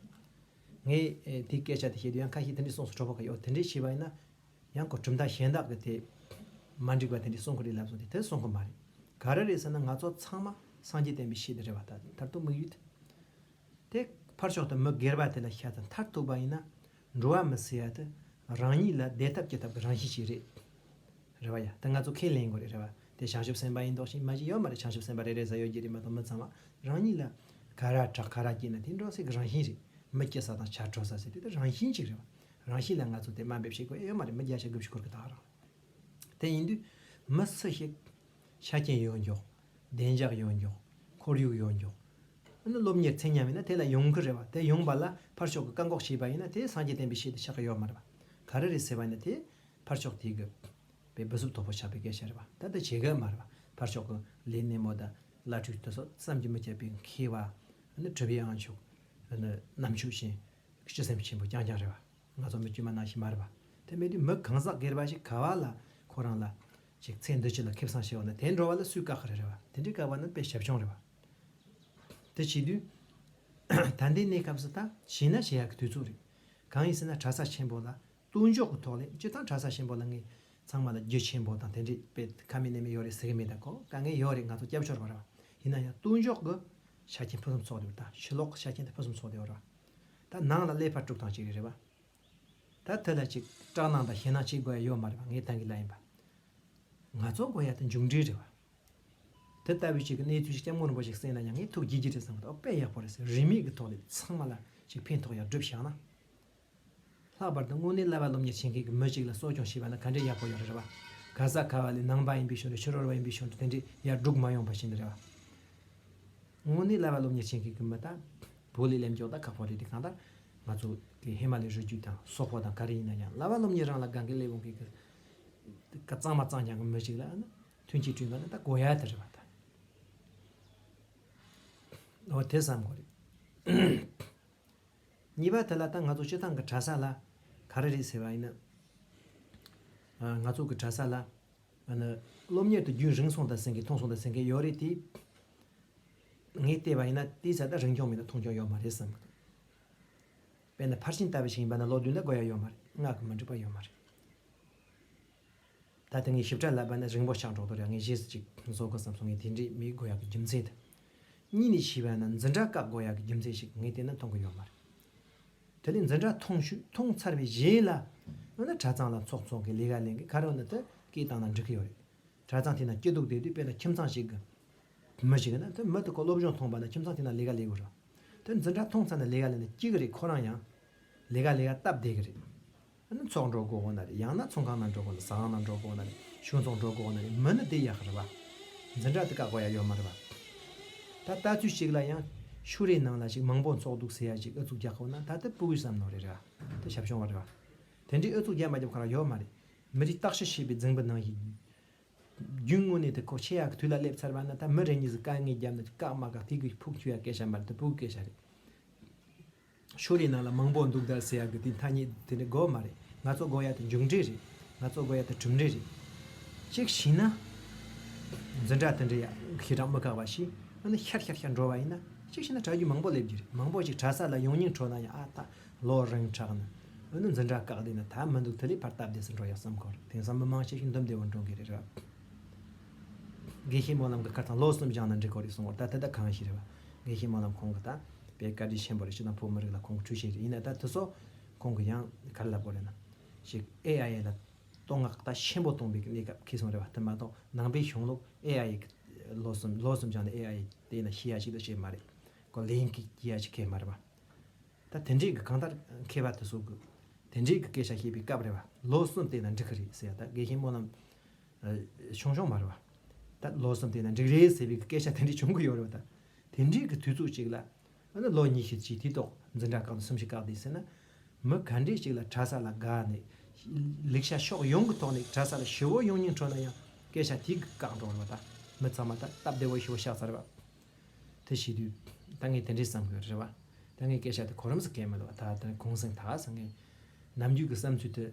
ངས་དེ་སྐད་ཆ་དེ་བཤད་དུས་ཡང་ཁ་ཤས་དེ་འདྲས་གསུངས་སུ་གྲོགས་པོ་ག་ཡོད་དེ་འདྲས་བྱས་པ་ཡིན་ན་ཡང་ཁོ་གྲུབ་མཐའ་གཞན་དག་གི་དེ་མ་འགྲིག་པ་དེ་འདྲས་གསུངས་གི་རེད་ལབ་སོང་དེ་དེ་གསུངས་གི་མ་རེད་ག་ར་རེད་ཟེར་ན་ང་ཚོ་ཚང་མ་སངས་རྒྱས་བསྟན་པའི་ཤེས་དེ་རེད་བ་ད་དུང་དམིགས་ཡུལ་དེ། དེ་ཕར་ཕྱོགས་དུ་མི་སྒེར་པ་དེ་ལ་ཤ་ཚ་མཐར་ཐུག་པ་ཡིན་ན་འགྲོ་བ་མི་སེར་དེ་རང་ཉིད་ལ་བདེ་ཐབས་སྐྱེ་ཐབས་ཀྱི་རང་བཞིན་ཞིག་རེད། རེད་བ་ཡ། དེ་ང་ཚོ་ཁས་ལེན་དགོས་རེད་རེད་བ། དེ་བྱང་ཆུབ་སེམས་པ་ཡིན་མདོག་བྱེད་མ་བྱེད་ཡོད་མ་རེད་བྱང་ཆུབ་སེམས་པ་རེ་རེ་བཟའ་ཡོད་ཀྱི་རེད་མ་གཏོགས་མི་ཚང་མ་རང་ཉིད་ལ་ག་ར་དྲག་ག་ར་སྐྱེས་ན་དེ་འགྲོ་སའི་གི་རང་བཞིན་རེད། མི་སྐྱེ་ས་དང་བྱ་འཕྲོ་ས་ཟེར་དེ་དེ་རང་བཞིན་ཅིག་རེད་བ། རང་བཞིན་ལ་ང་ཚོ་དེ་དམའ་འབེབས་བྱེད་དགོས་ཨེ་ཡོད་མ་རེད་མི་བརྒྱ་ཆ་དགུ་བཞི་འཁོར་གི་དང་རང་རེད། དེ་ཡིན་དུས་མི་སུ་ཞིག་ཤ་རྐྱེན་ཡོད་མགྱོགས། བདེ་འཇགས་ཡོང་རྒྱུ། ཁོར་ཡུག་ཡོང་རྒྱུ། འོ་ན་སློབ་གཉེར་ཚད་མཉམ་ཡིན་ན་དེ་ལ་ཡོང་གི་རེད་བ། དེ་ཡོང་པ་ལ་ཕར་ཕྱོགས་ཀྱི་བཀག་འགོག་བྱས་པ་ཡིན་ན་དེ་སངས་རྒྱས་བསྟན་པའི་ཞལ་དུ་ཆགས་ཀྱི་ཡོད་མ་རེད་བ། ག་རེ་རེད་ཟེར་བ་ནི་དེ་ཕར་ཕྱོགས་དེ་གི་པའི་བུ་གཟུགས་ཐོབ་པོ་ཆགས་པའི་སྐད་ཆ་རེད་བ། ད་ལྟ་བྱེད་གི་མ་རེད་བ། ཕར་ཕྱོགས་ཀྱི་ལས་སྣེ་མོ་དང་བླ་སྤྲུལ་དེ་ཚོ་བསམ་གྱི་མི་ཁྱབ་པའི་མཁས་བ། འོ་ན་གྲུབ་ཡའང་ཆོག། འོ་ན་ནམ་ཆོས་བཞིན་སྤྱི་སེམས་ཆེན་པོ་རྐྱང་རྐྱང་རེད་བ། ང་ཚོ་མི་དཀྱུས་མ་ནང་བཞིན་མ་རེད་བ། དེ་མེད་དུས་མི་གང་ཟག་སྒེར་བ་ཞིག་ག་བ་ལ་ཁོ་རང་ལ་ཅིག་ཚེ་འདི་ཕྱི་ལ་ཁེབས་སང་ཤི་བ་ན་དེ་འགྲོ་བ་ལ་སུས་བཀག་གི་རེད་རེད་བ་དེ་འདྲའི་བཀག་པ་ནི་དཔེ་ཞབས་སྦྱོང་རེད་བ། དེ་བྱེད་དུས། ད་ལྟའི་གནས་སྐབས་སུ་ད་བྱས་ན་བྱེད་ཡག་གི་དུས་ཚོད་རེད། གང་ཡིན་ཟེར་ན་གྲྭ་ས་ཆེན་པོ་ལ་ལྟོས་འཇོག་གི་ཐོག་ལས་སྤྱི་དང་གྲྭ་ས་ཆེན་པོ་ལ་ངས་ཚང་མ་ལ་རྒྱུ་ཆེན་པོ་དང་དེ་འདྲའི་དཔེ་ཁ་མེད་ནད་མེད་ཡོད་རེད་ཟེར་གི་མེད་ད་གོ་དཀའ་ངལ་ཡོད་རེད་ང་ཚོ་སྐྱབས་བཅོལ་བ་རེད་བ་ཡིན་ན་ཡང་ལྟོས་འཇོག་གི་ཆ་རྐྱེན་ཕུན་སུམ་ཚོགས་དེ་བ་ད་ཕྱི་ལོག་གི་ཆ་རྐྱེན་དེ་ཕུན་སུམ་ཚོགས་དེ་བ་རེད་བ། ད་ནང་ལ་ཀླད་པ་དཀྲུག་སྟངས་ཅིག་རེད་རེད་བ། ད་ཐོས་ལ་ཅིག་སྐྲག་སྣང་དང་ཞེད་སྣང་བྱེད་དགོས་ཡ་ཡོད་མ་རེད་པ་ངས་ཐང་གི་ལ་ཡིན་པ། ང་ཚོ་དགོས་ཡ་དེ་མཇུག་འགྲིལ་རེད་བ། དེ་ལྟ་བུའི་ཅིག་གི་གནས་ཚུལ་ཅིག་སྐྱབས་མགོན་རིན་པོ་ཆེ་གསན་ན་ཡང་ངས་ཐུགས་དགྱེས་ཀྱི་རེད་བསམ་གི་འདུག་ཨ་དཔེ་ཡག་པོ་རེད་ཟེར་རིན་མེད་ཀི་ཐོག་ལས་ཚང་མ་ལ་ཅིག་ཕན་ཐོག་ཡག་བསྒྲུབས་བཞག་ན། ལྷག་པར་དུ་དངོས་གནས་བླ་བ་སློབ་གཉེར་བྱེད་མཁན་གི་མི་ཅིག་ལ་གསོ་སྐྱོང་བྱེད་པ་ན་ག་འདྲའི་ཡག་པོ་ཡོད་རེད་བ། ག་ས་ག་བ་ལས་ནང་པ་ཡིན་པའི་ཕྱོགས་ལས་ཕྱི་རོལ་བ་ཡིན་པའི་ཕྱོགས་ལས་དེ་འདྲའི་ཡར་འབྲུག་མ་ཡོང་པ་བྱེད་ནི་རེད་བ། དངོས་གནས་ལ་བ་སློབ་གཉེར་བྱེད་མཁན་གྱི་མི་དང་བོ་ལས་ལེམ་འཇོག་དང་ཁག་པོ་རེད་དེ་གང་ལྟར་ང་ཚོ་གི་ཧེ་མ་ལའི་རི་རྒྱུད་དང་སོག་པོ་དང་ག་རེ་ཡིན་ན་ཡང་ལ་བ་སློབ་གཉེར་རང་ལ་དགའ་མཁན་ལས་བོང་གིས་ཀ་གཙང་མ་གཙང་རྐྱང་གི་མི་ཞིག་ལ་ནི་མཐུན་རྐྱེན་བསྐྲུན་དགོས་ན་ད་གོ་ཡ་དེ་རེད་བ་དང། འོ་དེ་བསམ་དགོས་རེད། གཉིས་པ་དེ་ལ་ད་ང་ཚོ་སྤྱི་བཏང་གི་གྲྭ་ས་ལ་ག་རེ་རེད་ཟེར་བ་ཡིན་ན། ང་ཚོ་གི་གྲྭ་ས་ལ་ཨ་ནི། སློབ་གཉེར་དུ་རྒྱུན་རིང་སོང་དང་ཟེར་མཁན་ཐུང་སོང་དང་ཟེར་མཁན་ཡོད་རེད་དེ། ངས་བལྟས་པ་ཡིན་ན་དེའི་ཚད་ད་རིང་སྐྱོང་མིན་ན་ཐུང་སྐྱོང་ཡོད་མ་རེད་བསམ་གྱི་འདུག་དཔེར་ན་ཕར་ཕྱིན་ལྟ་བུ་ཞིག་ཡིན་པ་ན་ལོ་བདུན་ལ་དགོས་ཡ་ཡོད་མ་རེད་སྔགས་ཀྱི་མི་འགྲིག་པ་ཡོད་མ་རེད། ད་ལྟ་ངས་ཞིབ་ཕྲ་ལབ་པ་ན་རིང་པོ་ཆགས་འགྲོ་དོ་རེད་ངས་གཞས་སུ་ཅིག་བཟོ་དགོས་བསམ་སོང་ངས་དེ་འདྲའི་མི་དགོས་ཡ་གི་རྒྱུ་མཚན་དང། གཉིས་ནས་བྱིས་པ་ན་འཛིན་གྲྭ་བཀག་དགོས་ཡ་གི་རྒྱུ་མཚན་ཞིག་ངས་བལྟས་ན་མཐོང་གི་ཡོད་མ་རེད། དེ་ལས་འཛིན་གྲྭ་ཐོངས་ཤུགས་ཐོངས་ཚར་བའི་རྗེས་ལ། ཡང་ན་གྲྭ་ཚང་ལ་ཚོགས་འཚོགས་ཀྱི་ལས་ཀ་ལེན་གི་ཁར་ཡང་ན་དེ་སྐད་བཏང་ན་འགྲིག་གི་ཡོད་རེད། གྲྭ་ཚང་དེ་ན་སྐྱིད་སྡུག་བསྡད་དུས་དཔེ་ན་ཁྱིམ་ཚང་ཞིག་གི་མི་ཞིག་ན་དེ་མི་དེ་ཁོ་སློབ་སྦྱོང་ཐོངས་པ་ན་ཁྱིམ་ཚང་དེ་ན་ལས་ཀ་ལས་དགོས་རེད། དེ་འཛིན་གྲྭ་ཐོངས་ཚར་ན་ལས་ཀ་ལེན་ན་སྐྱིད་གི་རེད་ཁོ་རང་ཡང་ལས་ཀ་ལས་ཀ་སྟབས་བདེ་གི་རེད། ཚོགས་འགྲོ་དགོས་དགོས་ན་རེ་ཡང་ན་ཚོང་ཁང་ནང་འགྲོ་དགོས་ན་ཟ་ཁང་ནང་འགྲོ་དགོས་ན་རེ་གཞུང་ཚོང་འགྲོ་དགོས་ན་རེ་མི་ནི་དེ་ཡག་རེད་པ། འཛིན་གྲྭ་དེ་བཀག་པ་ཡག་ཡོད་མ་རེད་པ། ད་ལྟ་ཚུལ་ཞིག་ལ་ཡང་ཤུ་རེ་ནང་ལ་ཞིག་མང་པོ་འཚོགས་འདུག་ཟེར་ཡ་ཞིག་ཨུ་ཚུགས་རྒྱག་ཁོ་ན་ད་ལྟ་པུ་གུས་སམ་ནོར་རེ་རེད་བ། དེ་ཞབས་ཤོང་བ་རེད་བ། དེ་འདྲའི་ཨུ་ཚུགས་རྒྱག་མ་རྒྱབ་གང་རང་ཡོད་མ་རེད། མི་རིགས་བརྟག་ཞིབ་བྱེད་པའི་རྫིང་བུ་ནང་ཞིག། རྒྱུན་དངོས་གནས་དེ་ཁོ་ཆེ་ཡག་གི་དུས་ལ་སླེབས་ཚར་བ་ན་ད་མི་རེ་གཉིས་སུ་དཀའ་ངལ་རྒྱབ་ན་བཀག་མ་བཀག་དེ་གི་ཕུགས་འཁྱུད་ཡ་སྐད་ཆ་མ་རེད་དེ་པུ་གུས་སྐད་ཆ་རེད། ཕྱོགས་རིས་ནང་ལ་མང་པོ་འདུག་དར་ཟེར་ཡག་གི་དེ་མཐའ་གཉིས་དེ་འདྲའི་གོ་མ་རེད་ང་ཚོ་གོ་ཡག་དེ་མཇུག་འབྲས་རེད་ང་ཚོ་གོ་ཡག་དེ་གྲུབ་འབྲས་རེད། གཅིག་བྱས་ན། འཛིན་གྲྭ་དེ་འདྲའི་ཡག་གི་གྲངས་མི་ཁག་པ་ཞིག་ཨ་ནི་ཤར་ཤར་ཤར་འགྲོ་བ་ཡིན་ན་གཅིག་བྱས་ན་གྲྭ་རྒྱུན་མང་པོ་སླེབས་རྒྱུ་རེད་མང་པོ་ཞིག་གྲྭ་ས་ལ་ཡོང་སྙིང་འཕྲོག་ན་ཡང་ཨ་ད་ལོ་རིང་དྲགས་ན་ཨོ་ནི་འཛིན་གྲྭ་བཀག་བསྡད་ན་ད་མི་འདུག་དེ་ལས་ཕར་སྟབས་བདེ་སུ་འགྲོ་ཡག་བསམ་གོ་རེད་དེང་སང་མི་མང་ཤས་ཤིག་འདུམ་བདེ་བོར་འགྲོ་གི་རེད་ར། དགེ་བཤེས་སྨོན་ལམ་གྱི་བཀའ་ཐང་ལོ་གསུམ་སྦྱངས་ན་འགྲིག་གོ་རེ་གསུངས་བར་ད་དེ་ད་གང་ཞིག་རེད་བ། དགེ་བཤེས་སྨོན་ལམ་ཁོང་གི་ད་པའི་བཀའ་དྲིན་ཆེན་པོ་རེད་སྤྱི་དང་བོ་མི་རིགས་ལ་ཁོང་གི་འཁྲུལ་ཤེས་རེད་ཡིན་ན་ད་དེ་སོགས་ཁོང་གི་ཡང་གར་ལབ་གོ་རེ་ན། ཞིག AIA ལ་བསྟོད་བསྔགས་ད་ཆེན་པོ་གཏོང་པའི་གནས་སྐབས་ཁེལ་སོང་རེད་བ་དེ་མ་གཏོགས་ནང་པའི་གཞུང་ལུགས AIA གི་ལོ་གསུམ་ལོ་གསུམ་སྦྱངས་ནས AIA བལྟས་ན་ཤེས་ཡ་ཞིག་ད་བྱེད་མ་རེད་གོ་ལེན་གྱི་ཡ་ཞིག་ཁེལ་མ་རེད་བ། ད་དེ་འདྲས་གི་གང་ལྟར་མཁས་པ་དེ་སོགས་གི་དེ་འདྲས་གི་སྐད་ཆ་བཤད་པའི་སྐབས་རེད་བ་ལོ་གསུམ་བལྟས་ན་འགྲིག་གི་རེད་ཟེར་ཡ་ད་དགེ་བཤེས་སྨོན་ལམ། བྱུང་བྱུང་མ་རེད་བ། ད་ལོ་གསུམ་དེ་ན་འགྲིག་རེད་ཟེར་བའི་སྐད་ཆ་དེ་འདྲ་བྱུང་གི་ཡོད་རེད་བ་ད། དེ་འདྲའི་གི་དུས་ཚོད་ཅིག་ལ། ཨ་ན་ལོ་གཉིས་ཤིག་ཅིག་དུས་ཐོག་འཛིན་གྲྭ་བཀག་ནས་གསུམ་ཤིག་བཀག་དེ་ཟེར་ན། མི་ག་འདྲས་ཅིག་ལ་གྲྭ་ས་ལ་དགའ་ནས། ལེགས་ཤ་ཤོག་ཡོང་གི་ཐོག་ནས་གྲྭ་ས་ལ་ཞི་བོ་ཡོང་སྙིང་འཕྲོ་ན་ཡང་སྐད་ཆ་དེ་གི་བཀག་འགྲོ་རེད་བ་ད། མི་ཚང་མ་ད་སྟབས་བདེ་བོ་ཞི་བོ་ཤག་ཚར་བ། དེ་བྱས་དུས་ད་ངས་དེ་འདྲའི་བསམ་གི་རེད་བ། ད་ངས་སྐད་ཆ་དེ་གོ་རིམ་ཟེར་མཁན་མེད་བ་ད་ད་གུང་སེང་ད་ཟེར་ངས། ནམ་རྒྱུན་གི་བསམ་ཚུལ་དེ།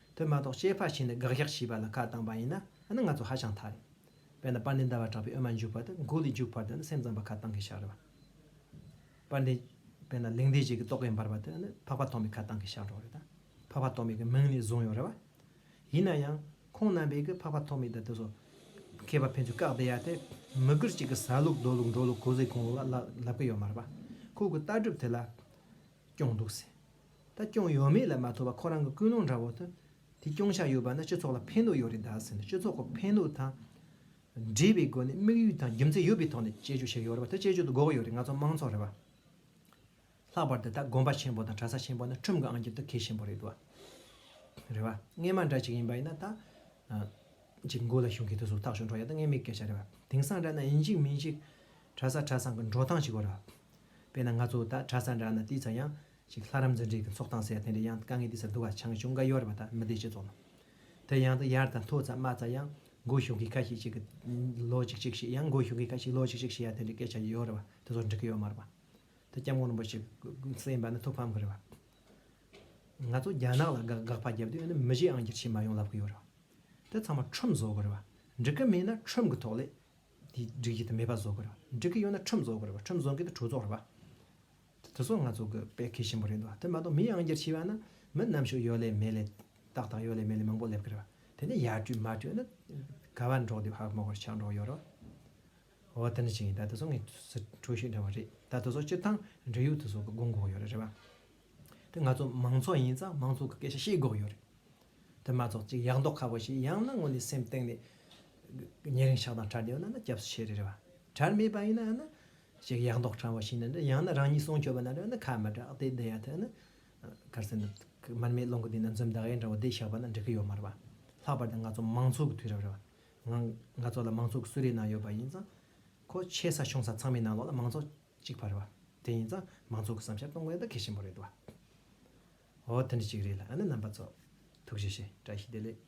དེ་མ་གཏོགས་སྐྱེས་ཕ་ཆེན་ནས་དགག་གཞག་བྱས་པ་ལ་ཁ་བཏང་པ་ཡིན་ན་ནི་ང་ཚོ་ཧ་ཅང་ཐ་རེད། དཔེར་ན་པར་འདི་འདའ་བར་གྲགས་པའི་དབུ་མ་འཇུག་པ་དེ་མགོ་ལས་འཇུག་བར་དུ་ནི་སེམས་ཙམ་པ་ཁ་བཏང་གི་བཞག་རེད་བ། པར་འདི། དཔེར་ན་ལིང་འདེ་བྱེད་ཀྱི་རྟོག་གེ་འབར་བ་དེ་ནི་འཕགས་པ་ཐོགས་མེད་ཁ་བཏང་གི་བཞག་གྲོགས་རེད་ད། འཕགས་པ་ཐོགས་མེད་ཀྱི་མིང་ནས་བཟུང་ཡོད་རེད་བ། ཡིན་ན་ཡང། ཁོང་རྣམ་པས་གི་འཕགས་པ་ཐོགས་མེད་དེ་དེ་སོ། མཁས་པ་ཕན་ཚུན་བཀག་བསྡད་ཡ་དེ། མི་དགར་ཅིག་གི་ཟ་ལུགས་འདོད་ལུགས་འགྲོ་ལུགས་གོ་ཟེ་གོང་ལུགས་ལ་ལབ་གི་ཡོད་མ་རེད་བ། ཁོ་གི་ལྟ་གྲུབ་དེ་ལ། སྐྱོང་འདུག་ཟེར། ད་སྐྱོང་ཡོད་མེད་ལ་མ་ལྟོས་པར་ཁོ་རང་གི་ཀུན་སློང་འདྲ་བོ་དེ་སྐྱོང་བཞག་ཡོད་པ་ནི་སྤྱི་ཚོགས་ལ་ཕན་ཐོགས་ཡོད་རེད་དཱ་ཟེར་ནས་སྤྱི་ཚོགས་ཀྱི་ཕན་ནུས་དང་འབྲེལ་བའི་སྒོ་ནས་དམིགས་ཡུལ་དང་རྒྱུ་མཚན་ཡོད་པའི་ཐོག་ནས་དཔྱད་བརྗོད་བྱས་ཡོད་རེད་པ་དེ་དཔྱད་བརྗོད་དུ་འགོག་ཡོད་རེད་ང་ཚོ་མང་ཚོགས་རེད་པ། ལྷག་པར་དུ་ད་དགོན་པ་ཆེན་པོ་དང་གྲྭ་ས་ཆེན་པོ་ནི་ཁྲིམས་ཀྱི་ཨང་ཀྱི་དུ་ཁེ་ཆེན་པོ་རེད་དཱ། རེད་པ། ངས་མ་འདྲ་ཅིག་ཡིན་པ་ཡིན་ན་ད་ཅིག་མགོ་ལ་ཤོང་གི་དུ་ཟུག་ཐག་ཆོད་འགྲོ་ཡ་ད་ངས་མི་སྐད་ཆ་རེད་པ། དེང་སང་འདྲ་ན་ཡིན་གཅིག་མིན་གཅིག་གྲྭ་ས་གྲྭ་ཚང་གི་འགྲོ་སྟངས་ཅིག་གོ་ར། དཔེར་ན་ང་ཚོ་ད་གྲྭ་ས་འདྲ་ན་དེའི་ཚ་ཡང། ཞིག་ལྷ་རམས་འཛིན་གྲས་ཀྱི་འཚོགས་སྟངས་ཟེར་དེ་འདྲ་ཡང་དཀའ་ངལ་དེ་སར་འདུ་བ་ཆང་ཞོ་འགའ་ཡོད་རེད་པ་ད་མི་བདེ་ཆེ་ཙོག་ལ། དེ་ཡང་དུ་ཡར་དང་མཐོ་ཙམ་དམའ་ཙམ་ཡང་མགོ་ཞུགས་མཁན་ཁ་ཤས་ཤིག་གིས་ལོ་ཅིག་ཅིག་ཤེས་ཡང་མགོ་ཞུགས་མཁན་ཁ་ཤས་ལོ་ཅིག་ཅིག་ཤེས་ཡ་དེ་འདྲའི་སྐད་ཆ་ཡོད་རེད་པ་དེ་ཚོ་འགྲིག་གི་ཡོད་མ་རེད་པ། དེ་སྐྱབས་མགོན་རིན་པོ་ཆེ་གསན་པ་ནི་ཐུགས་ཕམ་གི་རེད་པ། ང་ཚོ་རྒྱ་ནག་ལ་དགག་པ་བརྒྱབ་དུས་ནི་མི་གཞི་ཨང་བསྒྱུར་བྱེད་མ་ཡོང་ལབ་གི་ཡོད་རེད་པ། དེ་ཚང་མ་ཁྲོམ་བཟོ་གི་རེད་པ། འགྲིག་གི་མེད་ན་ཁྲོམ་གི་ཐོག་ལས། དེ་འགྲིག་གི་དེ་མེད་པ་བཟོ་དགོས་རེད་བ་འགྲིག་གི་ཡོད་ན་ཁྲིམས་བཟོ་དགོས་རེད་བ་ཁྲིམས་བཟོ་མཁན་དེ་གྲོས་ཚོགས་རེད་བ། དེ་ཚོ་ང་ཚོ་གི་དཔེ་མཁས་ཆེན་པོ་རེད་འདུག་བ་དེ་མ་གཏོགས་མི་ཡང་བསྐྱར་ཕྱི་བ་ན་མི་རྣམ་ཤོས་ཡོད་ལེ་མེད་ལེ་ཏག་ཏག་ཡོད་ལེ་མེད་ལེ་མང་པོ་སླེབས་གི་རེད་བ་དེ་ནས་ཡར་བསྐྱོད་མར་བསྐྱོད་ན་ག་བ་འགྲོགས་དེ་བ་ཧ་གོ་མ་གོ་རེད་ཆགས་འགྲོགས་ཡོད་རེད་བ། འོ་དེ་འདྲ་ཞིག་ཡིན་ད་དེ་ཚོ་ངས་ཁྲོ་ཤིས་འདྲ་བ་རེད་ད་དེ་ཚོ་སྤྱིར་ཐང་འབྲེལ་ཡོད་དེ་ཚོ་གི་དགོངས་འགོག་ཡོད་རེད་བ། དེ་ང་ཚོ་མང་ཚོགས་ཡིན་ཙང་མང་ཚོགས་ཀྱི་སྐད་ཆ་ཤེས་དགོས་ཡོད་རེད། དེ་མ་ཚོགས་གཅིག་ཡག་མདོག་ཁ་པོ་ཞིག་ཡང་ན་ངོ་ནས་སེམས་སྟེང་ནས་ཉེ་རིང་ཆགས་སྡང་གྲ་སྒྲིག་ཡོད་ན་ན་སྐྱབས་སུ་མཆི་རེད་བ། གྲ་མེད་པ་ཡིན་ན་ཡང་ན་ཅིག་ཡག་མདོག་ཕྲ་བོ་ཞིག་ནས་ཡང་ན་རང་ཉིད་གསུང་ཆོས་པ་ན་རེད་བ་ན་ཁ་མི་གྲག་དེ་འདི་ཡ་ཐོས་ན་གར་སེ་འདི་མར་མེ་སློང་གི་འདུག་ན་འཛུམ་ཟླ་ཡེ་འདྲ་བོ་འདི་བཞག་པ་ན་འགྲིག་གི་ཡོད་མ་རེད་བ། ལྷག་པར་དུ་ང་ཚོ་མང་ཚོགས་ཀྱི་དུས་རབས་རེད་བ། ང་ང་ཚོ་ལ་མང་ཚོགས་ཀྱི་གསུལ་རས་ནང་ཡོད་པ་ཡིན་ཙང། ཁོ་ཆེ་ས་ཆུང་ས་ཚང་མའི་ནང་ལོགས་ལ་མང་ཚོགས་གཅིག་པ་རེད་བ། དེ་ཡིན་ཙང་མང་ཚོགས་ཀྱི་བསམ་ཤར་གཏོང་དགོས་ད་གལ་ཆེན་པོ་རེད་བ། འོ་དེ་འདྲ་གཅིག་རེད་ལ་ཨ་ན་རྣམ་པ་ཚོ། ཐུགས་རྗེ་ཆེ་བཀྲ་ཤིས་བདེ་ལེགས།